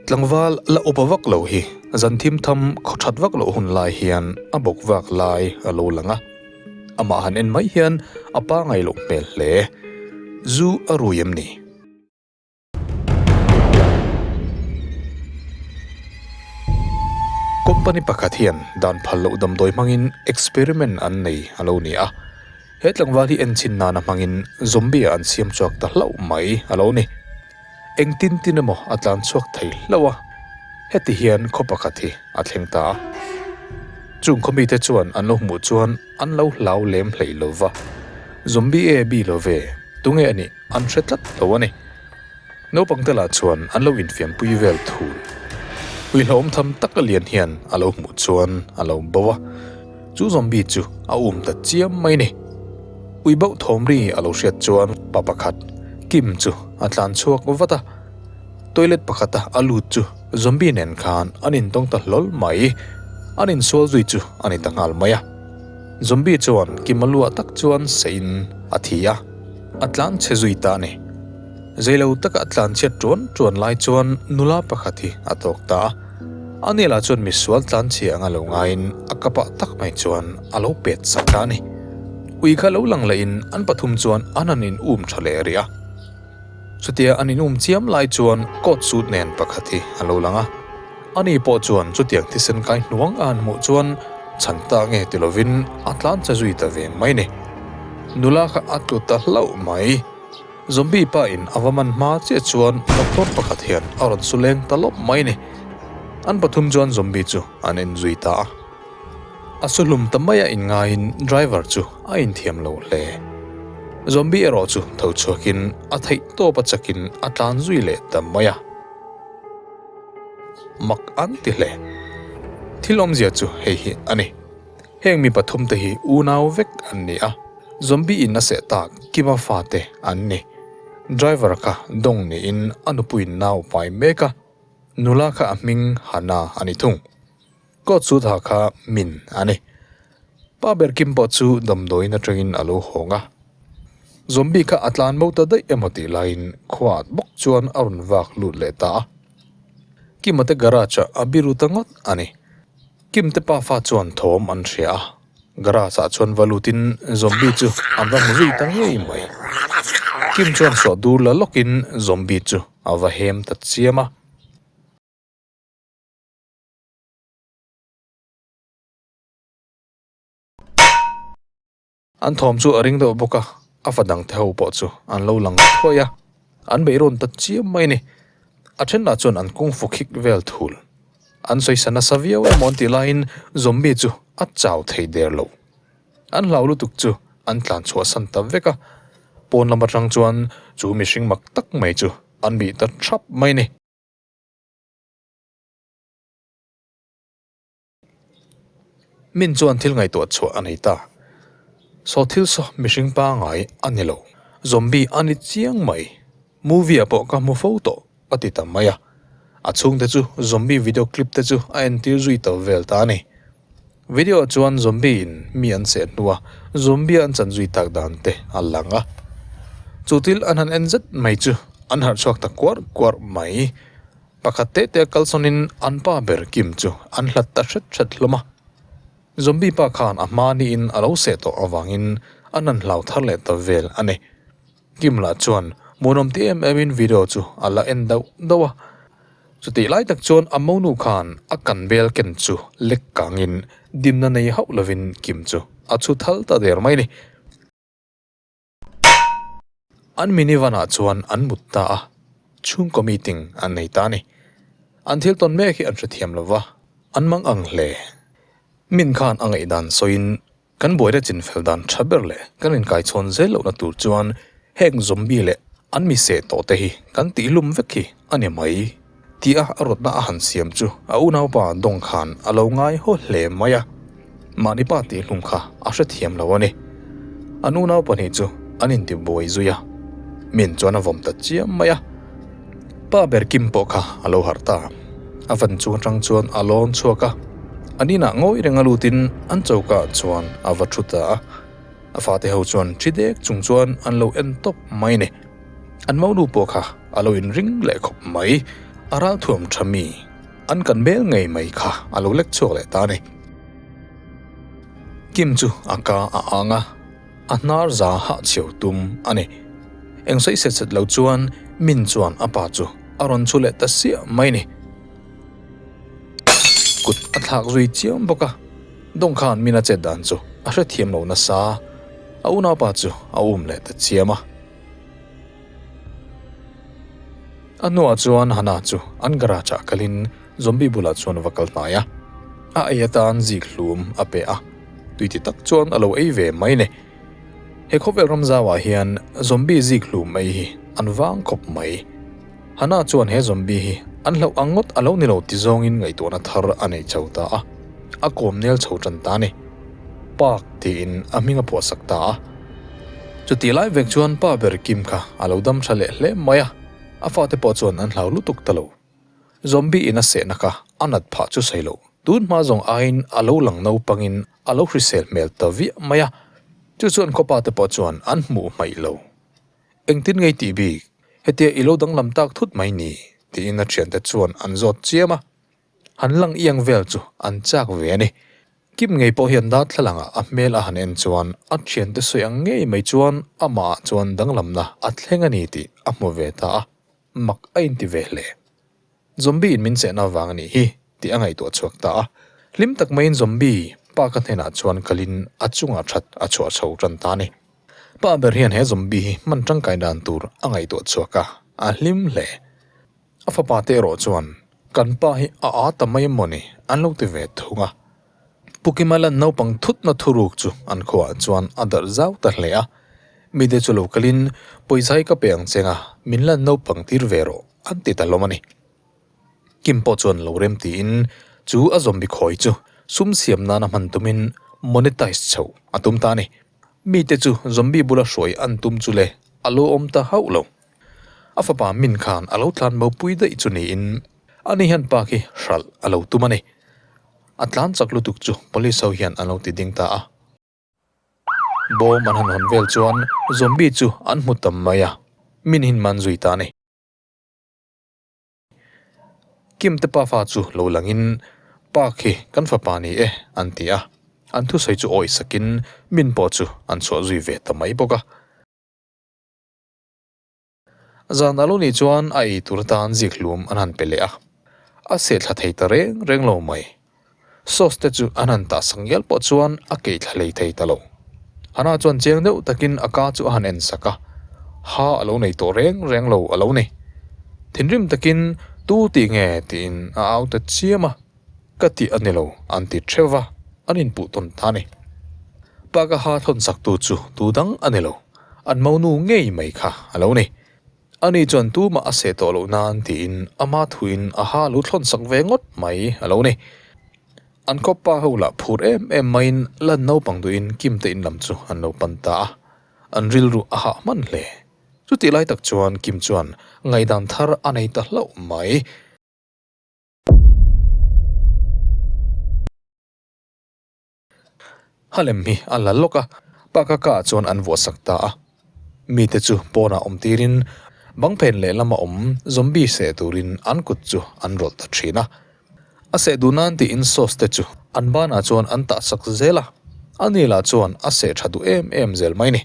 Tlangval la upa vak lo hi zan thim tham khaw that vak loh hun lai hian a bawk vak lai a lo lang a, amah han en mai hian a pangai loh hmel hle. Zu a rui em ni? Company pakhat hian dan phal loh damdawi hmangin experiment an nei a lo ni a, he tlangval hi enchin nana hmangin zombie-ah an siam chhuak ta hlauh mai a lo ni. Eng tin tin emaw a tlan chhuak thei hlauh a, heti hian khaw pakhat hi a thleng ta a. Chung khaw mite chuan an lo hmuh chuan an lo hlau lem hlei lo va, Zombie e bi lo ve, tunge a nih? An hre tlat lo a ni. Naupang te lah chuan an lo infiampui vel thu ui hlauhawm tham tak a lian hian a lo hmuh chuan a lo bauh a, chu zombie chu a um ta chiam mai ni. Ui bauh thawm ri a lo hriat chuan pa pakhat Kim chu a tlan chhuak vat a, toilet pakhata a lut chu zombie nen khan an intawng ta hlawl mai, an insual zui chu a ni ta nghal mai a. Zombie chuan kim a luah tak chuan sain a thi a, a tlan chhe zui ta ni. Zeilo taka tlan chhiat ṭuan ṭuan lai chuan nula pakhat hi a tawk ta a, a nela chuan misual tlan chhe anga lo ngaiin a kapa tak mai chuan a lo pet sak ta a ni. Ui kha lo lang lahin an pathum chuan an han in um ṭha leh rih a. Chutia an in um chiam lai chuan coat suit nen pakhat hi a lo lang a, ani pawh chuan chutiang thisen kai hnuang a an hmuh chuan chhan ta nge ti lovin a tlancha zui ta ve mai ni. Nula kha a tlu ta hlauh mai. Zombie pa in a va man hma chiah chuan doctor pakhat hian a rawn su leng ta lawm mai ni. An pathum chuan zombie chu an en zui ta a. A saw hlum ta maia in ngaiin driver chu a inthiam lo hle. Zombie erawh chu tho chhuakin a theih tawpa chakin a tlan zui leh ta mai a. Mak an ti hle. Thil awmzia chu hei hi a ni. Heng mi pathum te hi unau vek an ni a, zombie in a seh tak kiva fate an ni. Driver kha dawng niin a nupui nau pai mek a, nula kha a hming Hannah a ni thung. Court chu tha kha min a ni. Pa ber Kim pawh chu damdawiin atangin a lo hawng a. Zombie kha a tlan mo ta daih emaw tih laiin khuaat bawk chuan a rawn vak lut leh ta a. Kim-a te garage ah a biru ta ngawt a ni. Kim te pa fa chuan thawm an hria a, garage ah chuan va lutin zombie chu an va hmu zui ta ngei mai. Kim chuan suah dur la lawkin zombie chu a va hem ta chiam a. An thawm chu a ring deuh bawk a, a fa dang te ho pawh chu an lo lang thuai a, an beih rawn ta chiam mai a ni. A thenah chuan an kung fukhik vel thul an sawisa nasa viau em aw tih laiin zombie chu a chau thei der lo. An hlau lutuk chu an tlan chhuah san ta vek a, pawn lam atang chuan chu mihring mak tak mai chu an bih ta thap mai a ni. Min chuan thil ngaihtuah chhuah a nei ta. Saw thil saw mihring pangai a ni lo. Zombie a ni chiang mai. Movie-ah pawh ka hmu fo tawh a ti ta mai a. A chhungte chu zombie video clip te chu a entir zui ta vel ta a ni. Video-ah chuan zombie-in mi an seh hnu a, zombie-a an chan zui tak dan te a lang a. Chu thil an han en zet mai chu an harh chhuak ta kuar kuar mai. Pakhat teh teh a kal sawnin an pa ber Kim chu an hlat ta hret hret hlawm a. Zombie pa khan a hma niin a lo seh tawh avangin a nan hlau thar leh ta vel a ni. Kim lah chuan munawm ti em emin video chu a la en dauh dauh a. Chutih lai tak chuan a monu khan a kan bel ken chu lek kangin dinna nei hauh lovin Kim chu a chhu thal ta der mai a ni. An minivan-ah chuan an mut ta a, chhungkaw meeting an nei ta a ni. An thil tawn mek hi an hrethiam lo va, an mang ang hle. Min khan a ngaih dan sawiin kan buaira chinfel dan tha ber leh kan inkaichhawn zel lohna tur chuan heng zombie leh an mi seh tawhte hi kan tihlum vek hi a ni mai. Tia a rawtna a han siam chu a unaupa dawng khan a lo ngai haw hle mai a, mahni pa tih hlum kha a hrethiam lo a ni. An unau pahnih chu an inti buai zui a, min chuan a vawm ta chiam mai a. Pa ber Kim pawh kha a lo harh ta, a van chung atang chuan a lawn chhuak a, a ninah ngawi reng a lutin an chokah chuan a va thu ta a. A fate ho chuan thri dek chung chuan an lo en tawp mai a ni. An mounu pawh kha a lo inring leh khawp mai, a ralthuam tha mi an kan bel ngei mai kha a lo lek chhuak leh ta a ni. Kim chu a ka a ang a, a hnar za hah chho tum a ni. Eng sawi set set lo chuan Min chuan a pa chu a rawn chu leh ta siah mai ni. Kut a thlak zui chiam bawk a, dawng khan Min a chet dan chu a hrethiam lo nasa a, a unaupa chu a um leh ta chiam a. A hnuah chuan Hannah chu an garage ah kalin Zombie bulah chuan a va kal hnai a. A ei atan zik hlum a pe a, tui ti tak chuan a lo ei ve mai le. He khawvel ram zau ah hian Zombie zik hlum ei hi an vang khawp mai. Hannah chuan he zombie hi an hlauh ang ngawt a lo ni lo ti zawngin ngaihtuahna thar a nei chho ta a, a kawm nel chho tan ta ni. Pak tiin a hming a phuahsak ta a. Chutih lai vek chuan Pa ber Kim kha a lo dam tha leh hle mai a, a fate pawh chuan an hlau lutuk ta lo. Zombie in a sehna kha a nat phah chu sawi lo. Tunhma zawng aiin a lo lang naupangin a lo hrisel hmel ta viah mai a, chu chuan khuapate pawh chuan an hmuh hmaih lo. Engtin ngei tih bik? Hetia i lo danglam tak thut mai ni? tiin a thiante chuan an zawt chiam a, han lang iang vel chu an chak ve a ni. Kim ngei pawh hian darthlalang-ah a hmel a han en chuan a thiante sawi ang ngei mai chuan amah-ah chuan danglamna a thleng a ni tih a hmu ve ta a, mak a inti ve hle. Zombie in min chehna vang a nih hi tih a ngaihtuah chhuak ta a. Hlim tak maiin Zombie pa ka hnenah chuan kalin a chungah that a chhuah chho tan ta a ni. Pa ber hian he Zombie hi hman tangkai dan tur a ngaihtuah chhuak a, a hlim hle. A fapa te erawh chuan, Kan pa hi a â ta mai emaw ni? an lo ti ve thung a. Pukimalan naupang thutna thuruk chu an khuaah chuan a darh zau ta hle a, mite chu lo kalin pawizai ka pe ang che nga, min lan naupang tir ve rawh an ti ta hlawm a ni. Kim pawh chuan lo rem tiin chu a zombie khawi chu sum siam nana hman tumin monetize chho a tum ta a ni. Mite chu zombie bula hruai an tum chu le a lawm ta hauh lo. A fapa min khan a lo tlan mo pui daih chu niin a ni hian pa khi hralh a lo tum a ni. A tlan chak lutuk chu police ho hian an lo ti ding ta a. Bawm an han hawn vel chuan zombie chu an hmu tam mai a, min hin man zui ta a ni. Kimte pa fa chu lo langin pa khi kan fapa ni e an ti a, an thusawi chu awi sakin min pawh chu an chhuah zui ve ta mai bawk a. Zan a lo nih chuan a ei tur tan zik hlum an han pe leh a, a seh thla thei ta reng reng lo mai. Sauce te chu an han tah sak ngial pawh chuan a keih thla lei thei ta lo. Hana chuan cheng deuh takin a ka chu a han en sak a, ha a lo nei tawh reng reng lo a lo ni. Thinrim takin tu tih nge tiin a au ta chiam a. Ka tih a ni lo, an ti theuh va, an inpuh tawn ta a ni. Pagaha thlawnsaktu chu tu dang a ni lo, an monu ngei mai kha a lo ni. A ni chuan tumah a seh tawh loh nan tiin ama thuin a ha lo thlawnsak ve ngawt mai a lo ni. An khawpa ho lah phur em em maiin lan naupang duhin Kimte in lam chu an lo pan ta a, an rilru a hah hman hle. Chutih lai tak chuan Kim chuan ngaidan thar a nei ta hlauh mai. A lem hi a la lawk a, pa kaka chuan an vuahsak ta a, mite chu pawnah awm tirin bang phen leh lama awm zombie seh turin an kut chu an rawlh ta thin a, a seh duh nan tiin sauce te chu an banah chuan an tahsak zel a, Anila chuan a seh tha duh em em zel mai ni,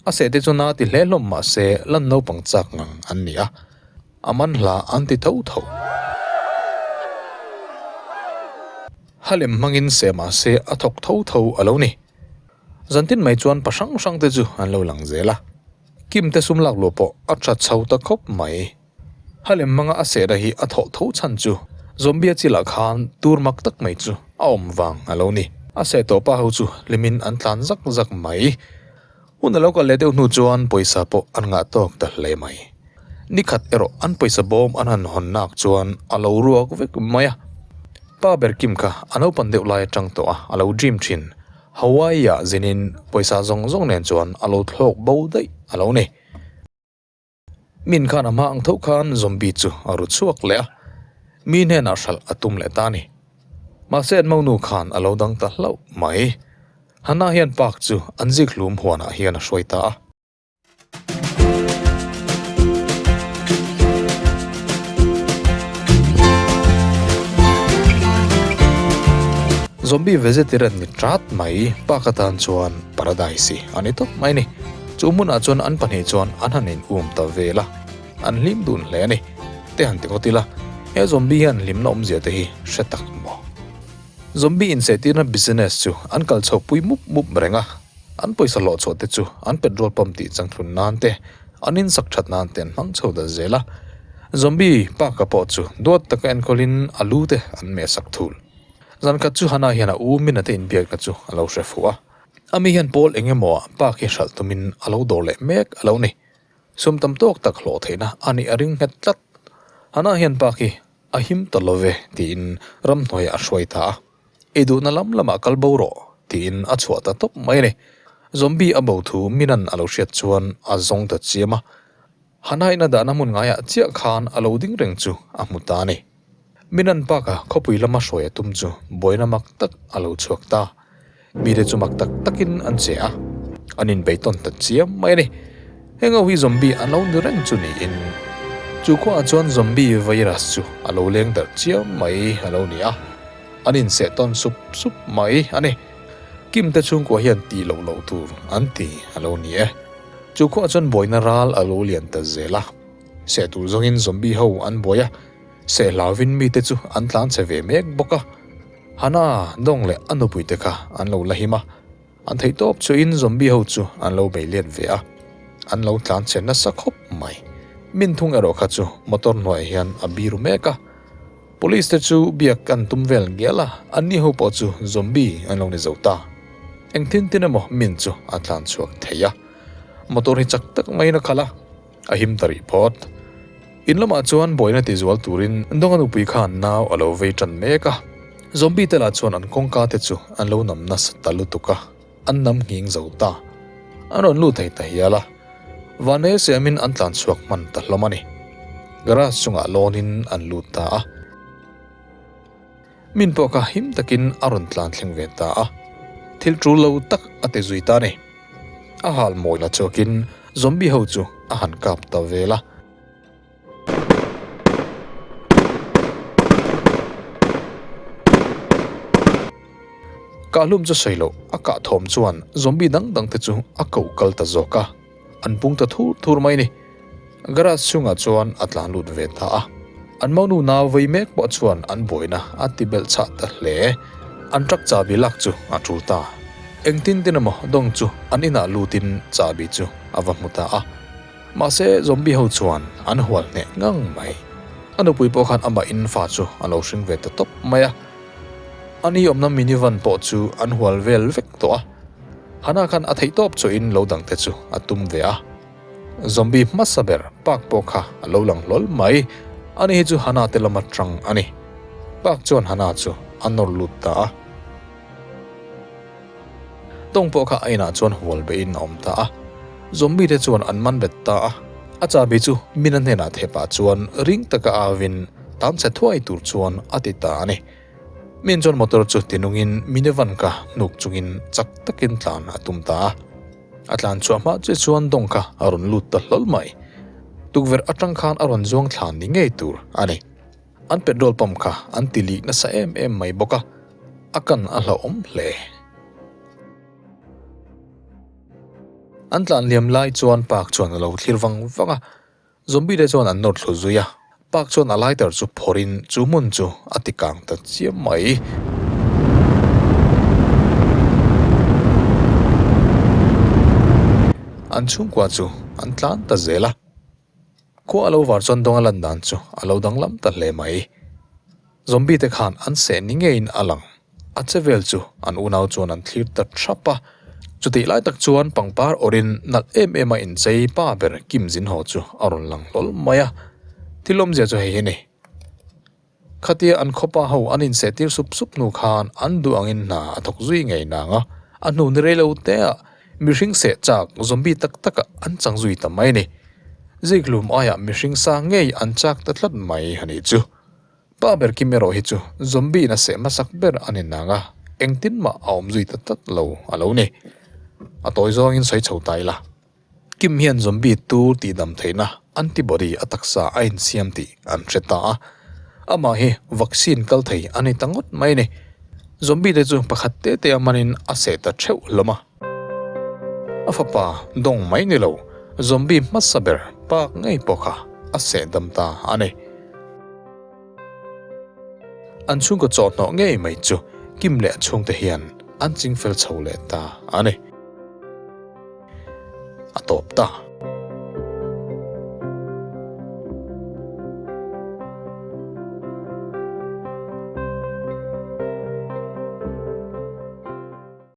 a seh te chu na ti hle hlawm mahse lan naupang chak ngang an ni a, A man hla an ti tho tho. Ha lem hmangin seh mah se a thawk tho tho a lo ni. Zan tin mai chuan pa hrang hrang te chu an lo lang zel a. Kim te sum lak lua pawh a tha chho ta khawp mai. Ha lem hmanga a seh da hi a thawh tho chhan chu zombia chil ah khan tur mak tak mai chu a awm vang a lo ni. A seh tawh pa ho chu hlim in an tlan zak zak mai. Hun a lo kal leh deuh hnu chuan pawisa pawh an ngah tawk ta hle mai. Ni khat erawh an pawisa bawm an han hawn nak chuan a lo ruak vek mai a. Pa ber Kim kha a naupan deuh lai atang tawh a, a lo dream thin. Hawaii-ah zinin pawisa zawng zawng nen chuan a lo thlawk bo daih a lo ni. Min khan a hma ang tho khan zombie chu a ru chhuak leh a, mi hnenah hralh a tum leh ta a ni. Mahse an monu khan a lo dang ta hlauh mai. Hanah hian Park chu an zikhlum huanah hian a hruai ta a. Zombie vegetarian ni tlat mai, Park atan chuan paradise i a ni tawp mai a ni. Chu hmunah chuan an pahnih chuan an han in uam ta vel a, an hlim dun hle a ni. Te han ti ngawt ila, he zombie hian hlimna awmzia te hi hre tak maw? Zombie insehtirna business chu an kal chhoh pui mup mup reng a, an pawisa hlawh chhoh te chu an petrol pump tih changthlun nan te, an in sak that nan te an hmang chho ta zel a. Zombie paka pawh chu duat taka enkawl in a lu te an meh sak thul. Zan khat chu han ah hian a u minute inbiakna chu a lo hre fuh a. Ami hian pawl eng emaw ah pa khi hralh tumin a lo dawr leh mek a lo ni. Sum tam tawk tak hlawh theihna a nih a ring nghet tlat. Hanah hian pa khi a him ta lo ve tiin ramhnuaia a hruai ta a. I duhna lam lamah kal bo rawh tiin a chhuah ta tawp mai a ni. Zombie a bo thu Minan a lo hriat chuan a zawng ta chiam a. Hanaina dahna hmun ngaiah chiah khan a lo ding reng chu a hmu ta a ni. Minan Park-a khawpui lama hruai a tum chu buaina mak tak a lo chhuak ta. Mite chu mak tak takin an che a, an inbei tawn ta chiam mai a ni. Hengo hi zombie an lo ni reng chu niin, chu khuaah chuan zombie virus chu a lo leng darh chiam mai a lo ni a, an inseh tawn sup sup mai a ni. Kim te chhungkua hian tih loh loh tur an ti a lo ni e. Chu khuaah chuan buaina ral a lo lian ta zel a, seh tur zawngin zombie ho an buai a, seh hlauin mite chu an tlang che ve mek bawk a. Hana, Dong leh a nupuite kha an lo la him a, an theih tawp chuin zombie ho chu an lo bei liat ve a, an lo tlang che nasa khawp mai. Min thung erawh kha chu motor hnuaia hian a biru mek a. Police te chu biak an tum vel ngial a, an ni ho pawh chu zombie an lo ni zo ta. Engtin tin emaw min chu a tlan chhuak thei a. Motor hi chak tak maiin a khalh a, a him ta rih phawt. In lamah chuan buaina ti zual turin Donga nupui khan nau a lo vei tan mek a. Zombie te lah chuan an kawngka te chu an lo nam nasa ta lutuk a. An nam nghing zo ta. An rawn lut thei ta hial a, vanve siamin an tlan chhuak hman ta hlawm a ni. Garage chungah lawnin an lut ta a. Min pawh kha him takin a rawn tlan thleng ve ta a. Thil tul lo tak a ti zui ta ni. A hal mawi la chhuakin zombie ho chu a han kap ta vel a. Ka hlum chu sawi lo, a kah thawm chuan zombie dang dang te chu a ko kal ta zawk a, an pung ta thur thur mai ni. Garage chhungah chuan a tlan lut ve ta a, an manu nau vei mek pawh chuan an buaina a ti belh chah ta hle. An truck chahbi lak chu a tul ta, engtin tin emaw dawng chu an inah lutin chahbi chu a va hmu ta a. Mahse, zombie ho chuan an hual hneh ngang mai. A nupui pawh khan amah in fa chu a lo hring ve ta tawp mai a. A ni awmna minivan pawh chu an hual vel vek tawh a. Hana khan a theih tawp chu in lo dang te chu a tum ve a. Zombie hmasa ber Park pawh kha a lo lang hlawl mai. A ni hi chu Hana te lam atang a ni. Park chuan Hana chu a nawr lut ta a. Tawng pawh kha a inah chuan hual behin a awm ta a, zombie te chuan an man ret ta a. A Chabi chu Mina hnenah theh pah chuan ring taka avin tam chhe thuai tur chuan a ti ta a ni. Min chuan motor chu ti nungin Minevan kha hnuk chungin chak takin tlan a tum ta a. A tlan chhuah hma chiah chuan dawng kha a rawn lut ta hlawl mai. Tukverh atang khan a rawn zuang thlan ni ngei tur a ni. An petrol pump kha an tilik nasa em em mai bawk a, a kan a hlauhawm hle. An tlan liam lai chuan Park chuan a lo thlir vang vang a, zombie te chuan an nawr thlu zui a, Park chuan a lighter chu phawrh in chu hmun chu a ti kang ta chiam mai. An chhungkua chu an tlan ta zel a. Khua a lo var chuan dawnga lan dan chu a lo dang lam ta hle mai. Zombie te khan an seh ni ngeiin a lang. A che vel chu an unau chuan an thlir ta thap a. Chutih lai tak chuan pangpar awrin nalh em em a inchei pa ber Kim Zin Haw chu a rawn lang hlawl mai a. Thil awmzia chu hei hi a ni. Khatia an khawpa ho an inseh tir sup sup hnu khan an duh angin hna a thawk zui ngei nang a, a hnu ni rei lo teah mihring seh chak zombie tak taka an chang zui ta mai ni. Zikhlum aiah mihring sa ngei an chak ta tlat mai a nih chu. Pa ber Kim erawh hi chu zombie in a seh hmasak ber a ni nang a, engtin mah a awm zui ta tlat lo a lo ni. A tawi zawngin sawi chho ta ila. Kim hian zombie tu tihdam theihna antibody a taksa a insiam tih an hre ta a. Amah hi vaccine kal thei a ni ta ngawt mai a ni. Zombie te chu pakhat te tea manin a seh ta theuh hlawm a. A fapa dawng mai ni lo, zombie hmasa ber pâk ngei pawh kha a sehdam ta a ni. An chhungkaw chawhhnawh ngei mai chu Kim leh a chhungte hian an ching fel chho leh ta a ni. A tawp ta.